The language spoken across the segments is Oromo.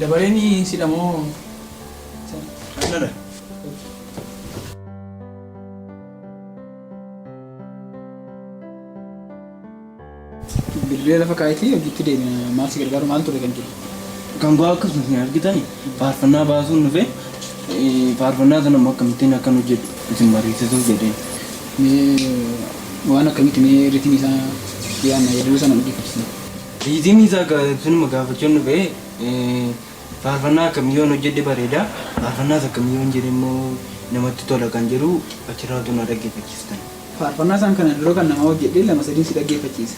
Dabareen sidha moo Dirree lafa kaa'itii hojiitti deemna. Maal si gargaaru maal ture kan jiru? Kan koo akkasuma isin argitan faarfannaa baasuun dhufe faarfannaa sana immoo akkamittiin akkan hojjedhu isin mariisisuuf jedheen. Mee Waan akkamitti mee ritimii isaa yaadna yeedaloo sana nu dhaggeeffachisi. Riitimii isaa gaa sunuma gaafachuun dhufe faarfannaa akkamii yoon hojjedhe bareeda faarfannaas akkamii yoon jedhe immoo namatti tola kan jedhu achirraa utuu na dhaggeeffachistan. Faarfannaa isaan kanaan dura kan namaa hojjedhe lama sadiin si dhaggeeffachiisa.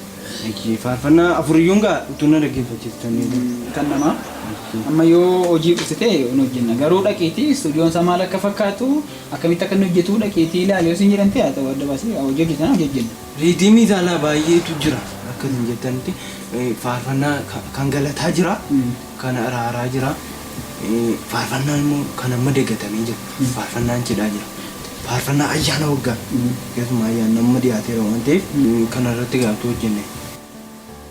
Ishii faarfannaa afur iyyuun gaa utuu na dhaggeeffachistan. Kan namaa amma yoo hojii dhufte ta'e hin hojjenna garuu dhaqiitii istuudiyoon isaa maal akka fakkaatu Akkamitti akka inni hojjetu dhaqiitii ilaali yoo siin jedhan ta'e haa ta'u adda baasii hojii hojjetan hojii hojjenna. Riidiimii caalaa baay'eetu jira akka isin jettanitti faarfannaa kan galataa jira kan araaraa jira faarfannaa immoo kan amma dagatamee jiru faarfannaan cidhaa jira faarfannaa ayyaana waggaa keessumaa ayyaanni amma dhiyaateera waan ta'eef kana irratti gaaftuu hojjenne.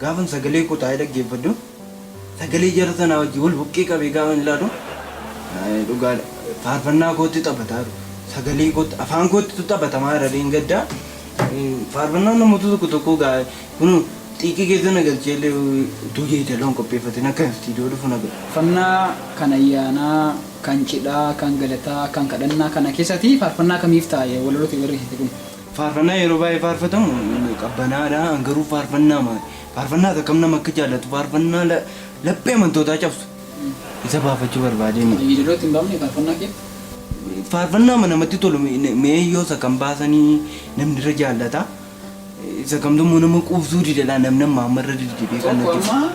Gaafan sagalee koo taa'ee dhaggeeffadhu, sagalee jara sanaa wajjin wal bukkee qabee gaafan ilaalu, dhugaa dha, faarfannaa kootti taphataa jiru. Sagalee kootti, afaan koottitu taphatamaa jira dheengaddaa. Faarfannaan namoota tokko tokkoo gaa kunuu xiiqii keessa na galchee illee utuu yeedaloo hin qopheeffatin akka istiidiyoo dhufu na godhe. Faarfannaa kan ayyaanaa, kan cidhaa, kan galataa, kan kadhannaa kana keessati faarfannaa kamiif taa'e walaloo ta'e barreessite kun? Faarfannaa yeroo baay'ee faarfatamu qabbanaadha. An garuu faarfannaama faarfannaa akkam nama akka jaallatu faarfannaa la- laphee amantootaa cabsu isa faarfachuu barbaadeen. Yeedaloo itti hin baafne faarfannaa keetti? Faarfannaama namatti tolu me- mee yoo isa kam baasanii namni irra jaallata isa kamtu immoo nama quubsuu didadha namni amma amma irra deddeebi'ee kan Tokko natti amma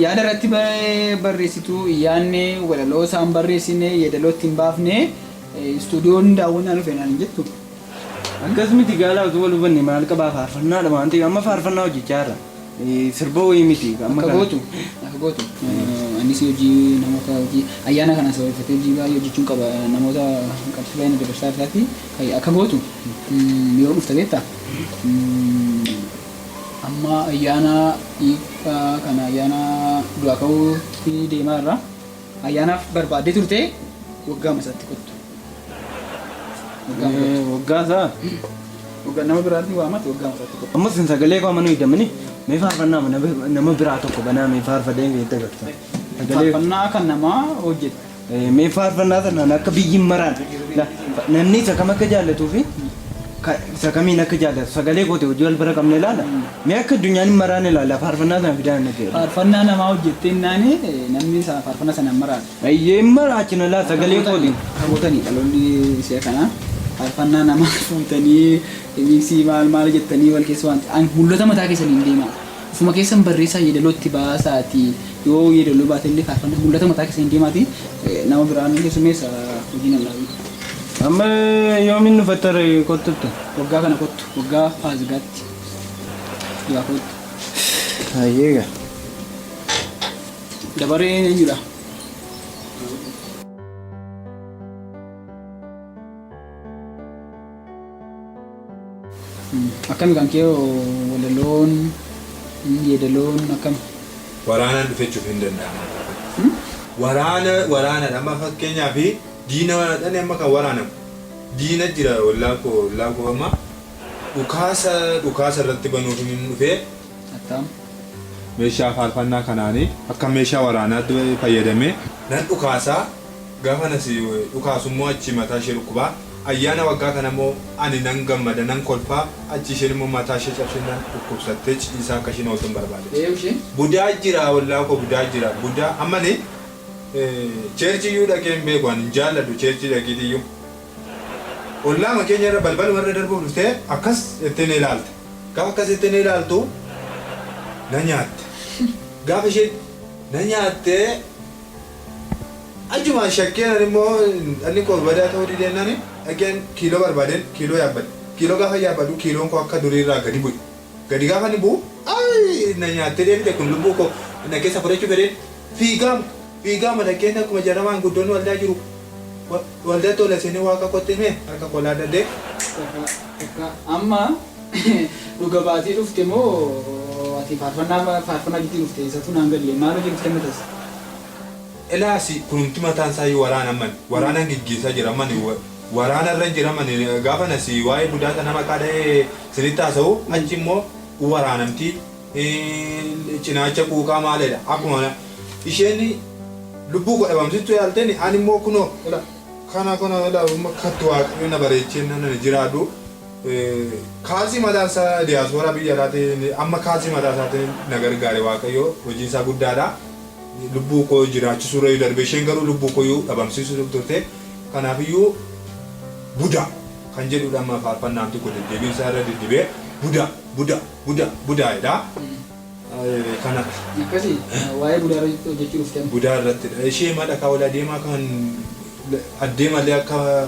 yaada irratti ba- barreessitu hin yaadne walaloo isaan barreessine yeedaloo itti hin baafne eh, istuudiyoon daawwannaa dhufe naan hin jettu. Akkas miti gaalaa osoo wal hubanne maal qabaa faarfannaadha waan ta'eef amma faarfannaa hojjechaa jirra sirba wayii miti amma Akka kana. gootu akka gootu eh, anis hojii namoota hojii ayyaana kana sababeeffatee hojii baay'ee hojjechuun qaba eh, namoota qabsii baay'ee na dabarsaa isaati Ay- akka gootu mm, yoo dhufta beekta Mm, amma ayyaana dhiibbaa kana ayyaana du'aa ka'uutti deemaa irraa Ayyaanaaf barbaaddee turte waggaama isaatti kottu. Waggaama kottu. Eh, Waggaa isaa. Waggaa nama biraatiin waamatti waggaama isaatti kottu. Ammas hin sagalee koo amanuu hidhamini. Mee faarfannaa mana nama biraa tokko banaa mee faarfadee hin dabarta. Sagalee Faarfannaa kan namaa hojjetu. Eh, mee faarfannaa tanaan akka biyyi maraan na- namni isa kam akka jaallatuu fi Ka, isa kamiin akka jaallatu sagalee kootii hojii wal bira qabne ilaala. Mee akka addunyaan hin maraanne ilaalla faarfannaa sana fidaa natti jedhu. Faarfannaa namaa hojjettee innaan namni sa- faarfannaa sana hin maraatu. Eeyyee hin maraachina laata sagalee kootiin. Tabootanii dhaloonni si'a kana faarfannaa namaa fuutanii miiksii maal maal jettanii wal keessa waan ta'an mul'ata mataa keessaniin deemaa. Ofuma keessan barreessaa yeedaloo itti baasaatii yoo yeedaloo baate illee faarfannaa mul'ata mataa keessaniin deemaatii nama biraa ni keessummeessa hojiin hin dhaabin. Amma yoomiin dhufatta ree kottuttu. Waggaa kana kottu waggaa faasigaatti duraa koottu. Hayyee gaa. Dabareen eenyudha? Akkami kan kee hoo walaloon yeedaloon akkami? Waraanaan dhufechuuf hin danda'amu akka kana. Waraana waraanadha amma fakkeenyaaf diina waraanadhaan amma kan waraanamu diina jira ollaa koo ollaa koo amma dhukaasa dhukaasa irratti banuuf hin dhufee Attaam. meeshaa faarfannaa kanaanii akka meeshaa waraanaatti fayyadamee nan dhukaasaa Gaafa na si dhukaasu immoo achii mataa ishee dhukkuba. Ayyaana waggaa kana immoo ani nan gammada, nan kolfa, achii isheen immoo mataa ishee cabsinnaan dhukkubsattee ciisaa akka isheen ooltu hin barbaade. Budaa jira ollaa koo budaa jira budaa amma ani church iyyuu dhaqee hin beeku ani hin jaalladhu church dhaqiitii iyyuu. Ollaama keenya irra balbaluma irra darbuuf dhuftee akkas jettee na ilaalti. Gaafa akkas jettee na ilaaltu na nyaatte. Gaafa isheen na nyaattee. Achumaan shakkeen ani immoo dhalli koo badaa ta'uu didee nani dhaqeen kiiloo barbaadeen kiiloo yaabbadhe. Kiiloo gaafa yaabbadhu kiiloon koo akka durii irraa gadi bu'e. Gadi gaafa inni bu'u ayii na nyaattee deebite kun lubbuu koo na keessa fudhachuu fedheen fiigaama fiigaama dhaqeen akkuma jarra maanguddoonni waldaa jiru waldaa tola seenee waaqa kootti himee harka koo laadhadhee. Takka takka amma. Dhuga baatee dhufte moo ati faarfannaa faarfannaa gidduu dhufte isatuu naan galle maal hojii nutti kennitas. Ilaasi kunumti mataan isaa iyyuu waraana ammani waraanan geggeessaa jira ammani waraana irran jira ammani gaafan asi waa'ee budaa sana maqaa dha'ee isinitti haasa'u achi immoo waraanamti cinaacha quuqaa maaleedha akkuma isheen lubbuu koo dhabamsistu yaalteen ani immoo kunoo ila kana kana ila kattu waaqayyo na bareechee nan jiraadhu. Kaazii mataa isaa diyaaspoora biyya alaatiin amma kaazii mataa isaatiin na gargaare waaqayyo hojiin isaa guddaadha. Lubbuu koo jiraachisuu irra darbee isheen garuu lubbuu koo iyyuu dhabamsiisuuf turte. Kanaaf iyyuu budaa kan jedhuudha amma faarfannaan tokko deddeebiin isaa irra diddibee budaa budaa budaa budaa jedha. Kanatti. Akkasi waa'ee budaa irra hojjechuu dhufte amma. Budaa irrattidha. Ishee madha kaa ol adeemaa kan addeemallee akka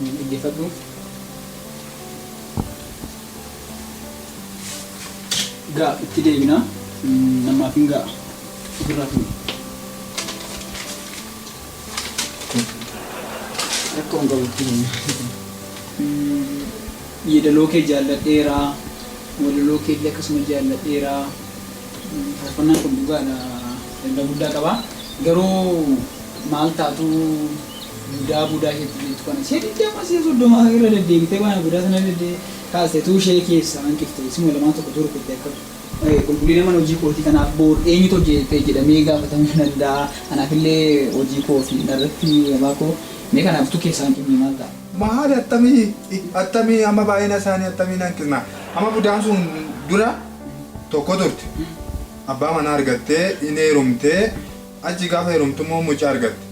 Mee dhaggeeffadhu. Gaa itti deebina. Namaaf hin ga'a. Ofirraa fuudhi. Rakkoo hin qabu itti deemna. Yeedaloo kee jaalladheera. Walaloo kee illee akkasuma jaalladheera. Faarfannaan kun dhugaadha. Ergaa guddaa qaba. Garuu maal taatu Budaa budaa isheetti jettu kana seeqxee amma si'a soddoma irra deddeebitee waan budaa sana dedde kaaste tuu ishee keessaa hanqifte isuma lamaan tokko tuu rukutte akka qulqullina mana hojii kootii kanaaf boor eenyutu hojjete jedhamee gaafatamuu danda'a anaaf illee hojii koo fi narratti abbaa koo mee kanaaf tuu keessaa hanqifne maal ta'a. Maali attamii attamii amma baay'ina isaanii attamii hanqifna amma budaan sun dura tokko turte abbaa manaa argattee hin heerumtee achi gaafa heerumtu immoo mucaa argatte.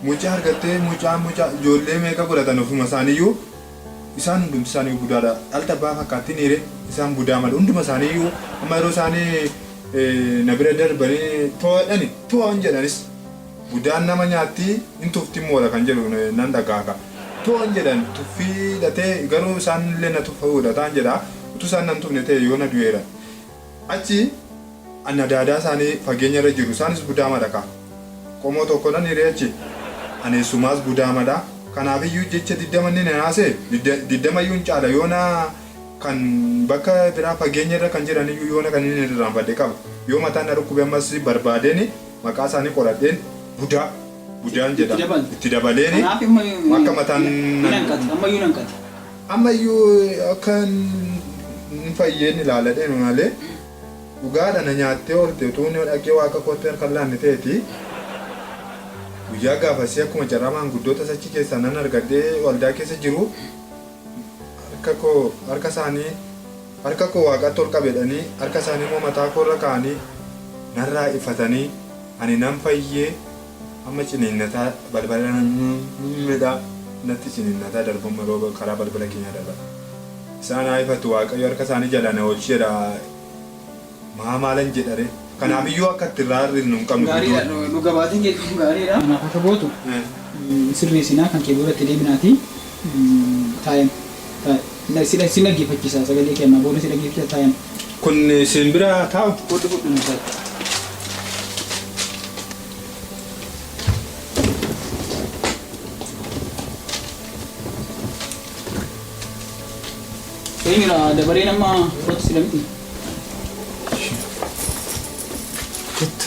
Mucaa argattee mucaan mucaa ijoollee meeqa godhatan ofuma isaaniyyuu isaan hundumti isaaniyyuu budaadha dhalti abbaa fakkaatti niire isaan budaa malee hunduma isaaniyyuu amma yeroo isaani na bira darbanii too'adhani too'an jedhanis budaan nama nyaatti hin tufti moodha kan jedhu nan dhagaaka too'an jedhan tuffii dhatee garuu isaan illee na tuffa godhataan jedha utuu isaan nan tufne ta'e yoona du'eera Achi anni adaadaa isaanii fageenya irra jiru, isaanis gudaama dha ka. Qomoo tokkodhan hiree achi. Ani eessumaas gudaama dha, kanaaf iyyuu jecha diddama inni na naase, diddama iyyuu hin caala, yoona kan bakka biraa fageenya irra kan jiran iyyuu yoona kan inni irraanfadhe qaba. Yoo mataan na dhukkube ammas barbaadeen maqaa isaanii qoradheen budaa, budaan jedha itti dabaleeni akka mataan na. Amma iyyuu akka hin fayyeen ilaala deema malee, dhugaa dha na nyaattee oolte utuun yoo dhaqee Waaqa kootti harka hin laanne ta'eeti, guyyaa gaafasii akkuma carraa maanguddoota achi keessaa nan argadhee waldaa keessa jiru harka koo harka isaanii harka koo Waaqatti ol qabedhanii harka isaanii immoo mataa koo irra kaa'anii narraa ifatanii ani nan fayyee Amma ciniinnataa balbala midhaa natti ciniinnataa darbu amma rooba karaa balbala keenyaa darba isaan haa ifatu waaqayyo harka isaanii jalaa na oolchi jedha maa maalan jedharee kanaaf iyyuu akka itti irraa hir'isnu hin qabnu Gaariidha guddoo. dhu- dhuga baatiin kee kun gaariidha. Kanaaf akka gootu Eh. mm, sirreessinaa kan kee booda itti deebinaatii mm, taa'een taa'e. Si dhaggeeffachisa sagalee kee ammaa booda si dhaggeeffachisa time. Kun siin bira haa taa'u. Fudhu fudhu mucatti. Eenyudha dabareen amma fudhatu sila miti. Kottu.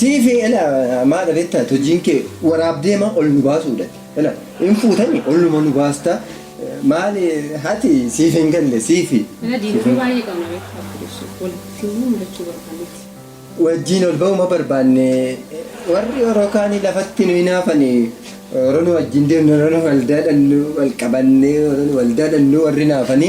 Siifi ela maadha betta ati hojiin kee waraabdeema ol nu baasuudhati ela in fuutani olluma nu baasta maali hati siif hin galle siifi Ela diinota baay'ee qabna beektaa Ortodoksii walitti finnee mudachuu barbaanneeti. wajjiin ol ba'uuma barbaanne warri oro kaani lafatti nu hinaafani oro nu wajjiin deemnu oro nu waldaadhannu wal qabanne oro nu waldaadhannu warri naafani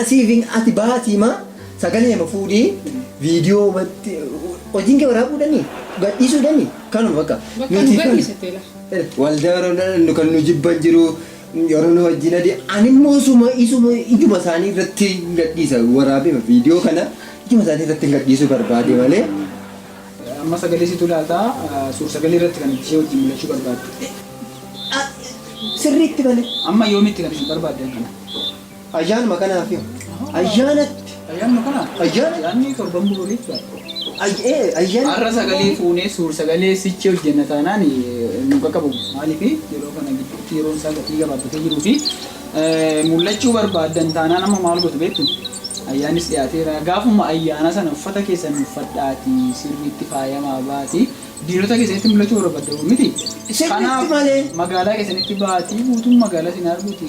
Asii fi ati baatii maa sagalee ma fuudhii viidiyoo matti hojiin kee waraabuu dhanii gadhiisuu dhanii kanuma bakka Bakka nu gadhiisate la. Waldaa Oromoo kan nu jibban jiru yeroo nu wajjin adii ani immoo suma isuma ijuma isaanii irratti gadhiisa waraabee viidiyoo kana ijuma isaanii irratti gadhiisuu barbaade malee. Amma sagalee situ laata suur sagalee irratti kan ishee wajjin mul'achuu barbaaddu. Sirriitti malee. Amma yoomitti kan isin barbaaddan kana? Ayyaanuma kanaaf yoo. Ayyaanatti. Ayyaanuma kanaaf. Ayyaanatti. Ayyaanni torban boorii ture. Ay- ee, Ayyaanni. Har'a sagalee fuunee suur sagalee sichi hojjenna taanaan eh, nu qaqqabu. Maaliif yeroo kana gidduutti yeroon isaa gatii gabaabbatee jiruu fi eh, mul'achuu barbaaddan taanaan amma maal gootu beektu? Ayyaanis dhiyaateera. Gaafuma ayyaana sana uffata keessan uffadhaatii sirriitti faayamaa baatii diinota keessanitti mul'achuu barbaaddan miti. Sirriitti malee. magaalaa keessanitti baatii guutuun magaalaa isin arguuti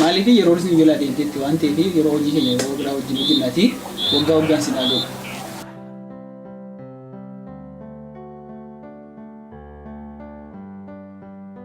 Maaliif yeroo isin jalaa deemtetti waan ta'eef yeroo hojii keenya yeroo biraa wajjin hojjennaatii waggaa waggaan sin haa ga'u.